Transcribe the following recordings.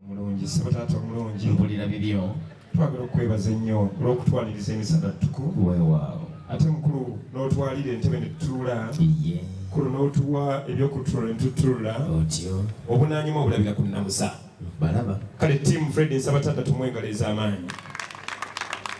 omulungi ssebo taata omulungi mpulira bibyo twagala okukwebaza ennyo olw'okutwaniriza emisana ttuku weewaawo ate mukulu n'otwalira entebe ne tutuula kulu n'otuwa ebyokutunula ne tutuula otyo obunaanyuma obulabira ku nnamusa balaba kale tiimu fred nsaba taata tumwengalo ez'amaanyi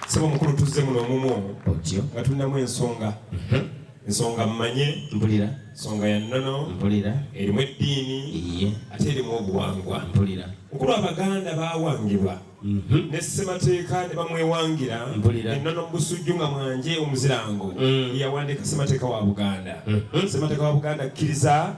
sebo mukulu tuzze muno omumu otyo nga tulinamu ensonga mhm. nsonga mmanye mpulira nsonga ya nnono mpulira erimu eddiini iye ate erimu obuwangwa mpulira kukulwa abaganda bawangibwa mhm. ne ssemateeka ne bamwewangira mpulira ennono mu busujju nga mwanje omuzirango mm. yawandiika ssemateeka wa buganda mhm. ssemateeka wa buganda akkiriza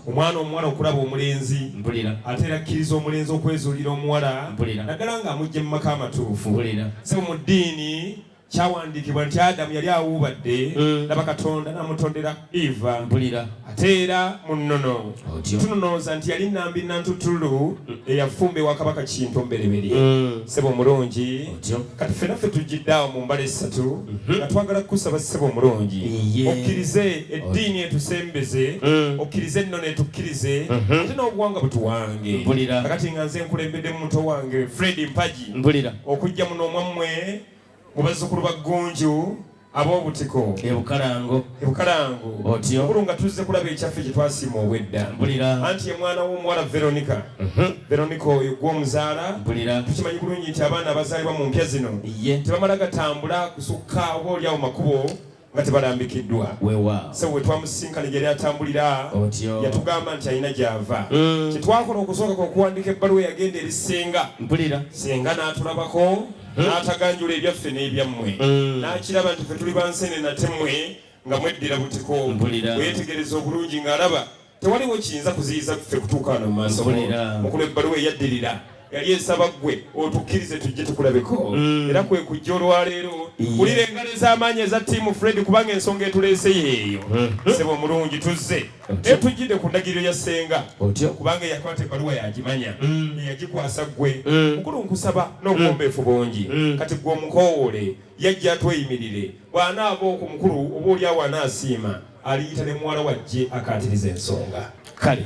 omwana omuwala okulaba omulenzi mpulira ate era akkiriza omulenzi okwezuulira omuwala mpulira naddala ng'amugje mu maka amatuufu mpulira se mu ddiini kyawandiikibwa nti adamu yali awuubadde mm. laba katonda namutondera eva mpulira ate era mu nnono tunonooza nti yali nambi nantutulu eyafumba ewa kabaka kintu mbereberye mm. sebo omulungi kati ffe naffe tuggiddaawo mu mbala essatu mm-hmm. nga twagala kukusaba sebo omulungi okkirize eddiini etusembeze mm. okkirize ennono etukkirize mm-hmm. ate n'obuwanga butuwange kakati nga nze nkulembeddemu muto wange fredi mpagi okujja muno omwammwe mu bazzukulu ba Ggunju ab'obutiko ebukalango ebukalango otyo mukulu nga tuzze kulaba ekyaffe kye twasiima obwedda mpulira anti ye mwana w'omuwala veronica mhm. veronica oyo gwe omuzaala mpulira tukimanyi kulungi nti abaana abazaalibwa mu mpya zino tebamala gatambula kusukka oba olyawo makubo nga tebalambikiddwa sebo wetwamusisinkana gyeyali atambulira yatugamba nti alina gyava mm. kyetwakola okusooka kwokuwandika ebbaluwa yagenda eri senga senga n'atulabako mm. n'ataganjula ebyaffe n'ebyammwe mm. n'akiraba nti fe tuli bansene natemwe nga mweddira butiko weyetegereza obulungi ng'alaba tewaliwo kiyinza kuziyiza ffe kutuuka wano mu maaso mukulu ebbaluwa eyaddirira yali esaba ggwe otukkirize tujje tukulabeko mm. era kwe kujja olwaleero wulira engalo ez'amaanyi eza tiimu fred kubanga ensonga etuleese yeeyo mm-hmm. sebo omulungi tuzze naye tujjidde ku ndagiriro ya ssenga kubanga eyakwata ebbaluwa yagimanya mm. eyagikwasa ggwe mm. mukulu nkusaba n'obuwombeefu bungi kati gwe omukowoole yajja atweyimirire Bw'anaava oku mukulu oba olyawo anaasiima aliyita ne muwala wa jje akaatirize ensonga. Kale.